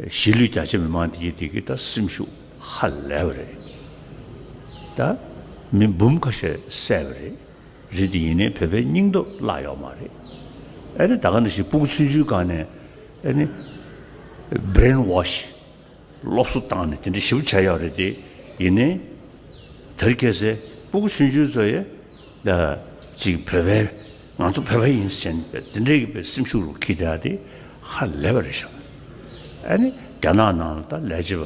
གཞིས་ལུས་རྒྱ་ཆེ་མི་མང་འདིའི་བདེ་སྐྱིད་དང་སེམས་ཤུགས་ཧ་ལས་པ་རེད། ད་མི་འབུམ་ཁ་ཤས་བསད་པ་རེད། རི་འདི་ཡིན་ནའི་བོད་པའི་སྙིང་སྟོབས་བརླག་ཡོག་མ་རེད། ཨ་རི་ད་ག་འདྲ་ཞིག་སྤུག་ཚུན་ཆུའི་སྒང་ནས་ཨ་ནི། Brain Wash། སློབ་གསོ་བཏང་ནས་དེ་འདྲ་ཞིབ་བྱ་ཡོག་རེད་དེ་ཡིན་ནའི། དར་སྐྱེ་སའི་སྤུག་ཚུན་ཆུའི་ཚོ་ཡེ། ཅིག་བོད་པའི་ང་ཚོ་བོད་པ་ཡིན་ཟེར་ནས་འདི་འདྲ་ཡིན་པའི་སེམས་ཤུགས་རུ་ཁྱི་དེ་ཨ་དེ་ཧ་ལས་པ་རེད་བཞག་ཨ་ནི་རྒྱ་ནག་ནང་ལ་ད་ལས་བྱེད་པ་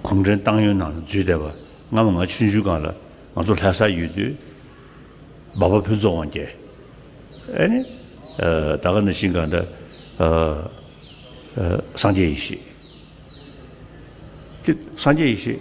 གུང་ཁྲན་ཏང་ཡོན་ནང་ལ་འཛུལ་བསྡད་པ་སྔ་མོ་ང་ཆུང་ཆུང་ག་ལ་ང་ཚོ་ལྷ་སར་ཡོད་དུས་འབའ་པ་ཕུན་ཚོགས་དབང་རྒྱལ་ཨ་ནི་ད་ག་ནས་ཤིང་ག་འདྲ་སངས་རྒྱས་ཡེ་ཤེས་སངས་རྒྱས་ཡེ་ཤེས་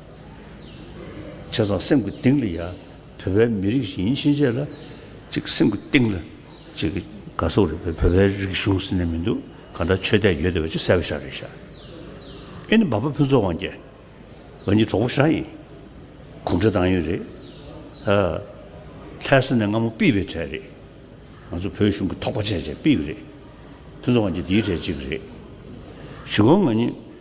བྱས་ཙང་སེམས་ཀྱི་གཏིང་ལ་ཡང་བོད་པའི་མི་རིགས་ཤིག་ཡིན་ཕྱིན་ཆད་ལ། ཅིག་སེམས་ཀྱི་གཏིང་ལ་ཅིག་དགའ་གསོ་རེད་བོད་པའི་རིགས་གཞུང་ཟེར་ནས་མི་འདུག་གང་འདྲ་ཆོས་དད་ཡོད་དེ་བས་ཅི་གསལ་བོ་ཤག་རེད་ཤག། ཨེ་ནི་འབའ་པ་ཕུན་ཚོགས་དབང་རྒྱལ། འོན་ཀྱི་གྲོགས་པོ་ཤག་ཡིན། གུང་ཁྲན་ཏང་ཡོན་རེད། ཧཧཧ། ལྷའི་སྲིད་ནས་སྔ་མོ་པིས་པའི་གྲས་རེད། ང་ཚོ་བོད་གཞུང་གི་ཐོག་པ་ཆེན་ཆེན་པིས་པ་རེད། ཕུན་ཚོགས་དབང་རྒྱལ་དེའི་གྲས་གཅིག་རེད། ཞུ་དགོངས་ང་ཉིད་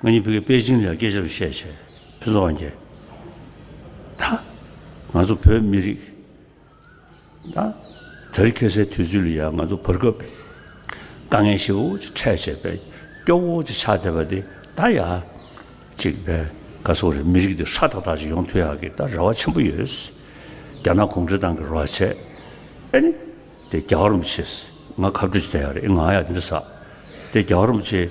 ང་གཉིས་བོད་ཀྱི་པེ་ཅིང་ལ་སྐད་ཆ་རེ་བཤད་བྱས། ཕུན་ཚོགས་དབང་རྒྱལ། ད། ང་ཚོ་བོད་མི་རིགས། ད། དེར་ཁེལ་སའི་དུས་ཚོད་ལ་ཡང་ང་ཚོ་བར་སྐབས་པས། དཀའ་ངལ་ཞེ་བོ་ཅིག་འཕྲད་བྱས་པས། སྐྱོ་བོ་ཅིག་ཆགས་བསྡད་པ་དེ་ད་ཡ། ཅིག་བས། ག་ཚོགས་རེད་མི་རིགས་འདིར་ཧྲ་ཐག་ཐག་ཅིག་ཡོང་ཐུ་ཡག་གི་ད་རེ་བ་ཆེན་པོ་ཡོད། རྒྱ་ནག་གུང་ཁྲན་ཏང་གི་རོ་བ་བྱས། ཨེ་ནི། དེ་རྒྱ་གར་རུམ་ཆེས། ང་ཁ་བྲོ་ཅིག་བྱ་ཡག་རེད་ཨེ་ང་ཡ་འདི་འདྲ་ཟ། དེ་རྒྱ་གར་རུམ་ཆེས།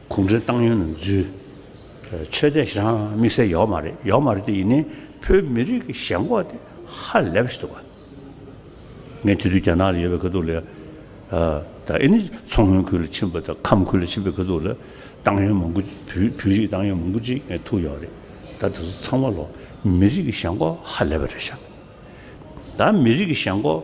གུང་ཁྲན་ཏང་ཡོན་ནང་འཛུལ། ཆོས་དད་བཞག་དམིགས་བསལ་ཡོག་མ་རེད་ཡོག་མ་རེད་དེ་ཡིན་ནའི་བོད་མི་རིགས་ཀྱི་ཞེན་ཁོག་དེ་ཧ་ལས་པ་ཞིག་འདུག་བ། ངས་དེ་དུས་རྒྱ་ནག་ལ་ཡོད་པའི་ཁ་ཐུག་ལས། ད་ཨེ་ནི་མཚོ་སྔོན་ཁུལ་ལ་ཕྱིན་པ་དང་ཁམས་ཁུལ་ལ་ཕྱིན་པའི་ཁ་ཐུག་ལ་ཏང་ཡོན་མང་པོ་བོད་རིགས་ཏང་ཡོན་མང་པོ་ཅིག་ངས་ཐུག་ཡོག་རེད་ད་དེ་ཚོ་ཚང་མ་ལོ་མི་རིགས་ཀྱི་ཞེན་ཁོག་ཧ་ལས་པ་རེད་བཞག། ད་མི་རིགས་ཀྱི་ཞེན་ཁོག།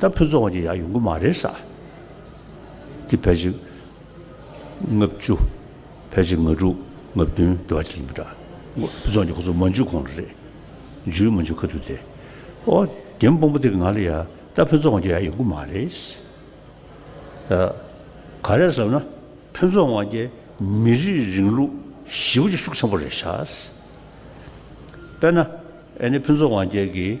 ད་ཕུན་ཚོགས་དབང་གྱི་ཡང་ཡོང་གི་མ་རེད་ས། འདི་ཕལ་ཆེར་ལྔ་བཅུ། ཕལ་ཆེར་ང་དྲུག་ལྔ་བདུན་བསྡུ་བ་ཅིག་ཡིན་པ་འདྲ། ཕུན་ཚོགས་ཀྱིས་ཁོ་ཚོ་མ་འཇུས་གོང་ལ་རེད། འཇུས་མ་འཇུས་ག་དུས་དེ། ཨོ། རྒན་སྤུན་པོ་དེ་གིས་ང་ལ་ཡ། ད་ཕུན་ཚོགས་དབང་གྱི་ཡང་ཡོང་གི་མ་རེད། ད། ག་རེད་བསམ་ན། ཕུན་ཚོགས་དབང་གྱི་མི་རིགས་རིང་ལུགས་ཞི་བ་ཅིག་ཤུགས་ཆེན་པོ་རེད་ཤག། དཔེར་ན། ཨ་ནི་ཕུན་ཚོགས་དབང་རྒྱལ་གྱིས།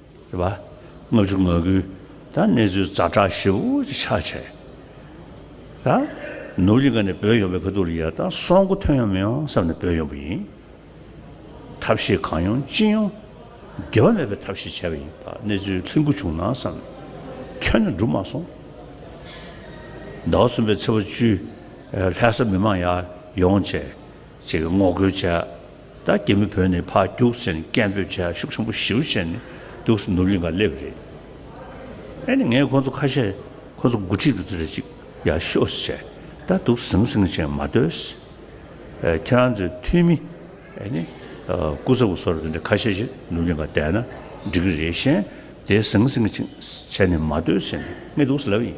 རེད་པ། ལྔ་བཅུ་ང་དགུའི་ད་གནས་ཚུལ་རྩ་བཀྲ་ཤིས་པོ་ཅིག་ཆགས་ཆེ། ད་ནུབ་གླིང་ག་ནས་བོད་ཡོང་པའི་ཁ་ཐུག་རེ་ཡར་ད་སོང་གོ་ཐོན་ཡོང་མི་ཡོང་བསམ་ནས་བོད་ཡོང་པ་ཡིན། ཐབས་ཤེས་གང་ཡོང་ཅི་ཡོང་འགལ་བ་མེད་པའི་ཐབས་ཤེས་བྱས་པ་ཡིན། ད་གནས་ཚུལ་ལྷིང་འགུལ་བྱུང་ན་བསམ་ནས་ཁྱོན་ནས་འགྲུབ་མ་སོང། ཟླ་བ་གསུམ་པའི་ཚེས་པ་བཅུའི་ལྷ་ས་མི་མང་ཡར་ཡོང་བྱས། ཅེས་ངོ་རྒོལ་བྱས། ད་གེ་མོ་བོད་ནས་ཕར་རྒྱུགས་ཟེར་ནས་སྐད་འབོད་བྱས་ཤུགས་ཆེན་པོ་ཞིའུ་བྱས་ནས་འདུག་སེ་ནུབ་གླིང་ག་སླེབས་རེད་ཨེ་ནས་ངས་ཁོང་ཚོ་ཁ་ཤས་ཁོང་ཚོ་འགོ་ཁྲིད་དུ་རེ་ཅིག་ཡ་ཤོ་ཟེར་ད་འདུག་ཟིང་ཟིང་བྱས་མ་སྡོད་ཟེར་ཨེ་ཁྱེད་རང་ཚོའི་འཐུས་མི་ཨེ་ནས་སྐུ་ཚབ་སྐུ་སོར་དེ་འདྲ་ཁ་ཤས་ཞིག་ནུབ་གླིང་ག་བསྡད་ན་འགྲིག་གི་རེད་གཞན་དེ་ཟིང་ཟིང་བྱས་ནས་མ་སྡོད་ཟེར་ནས་ངས་འདུག་སེ་ལབ་ཡིན།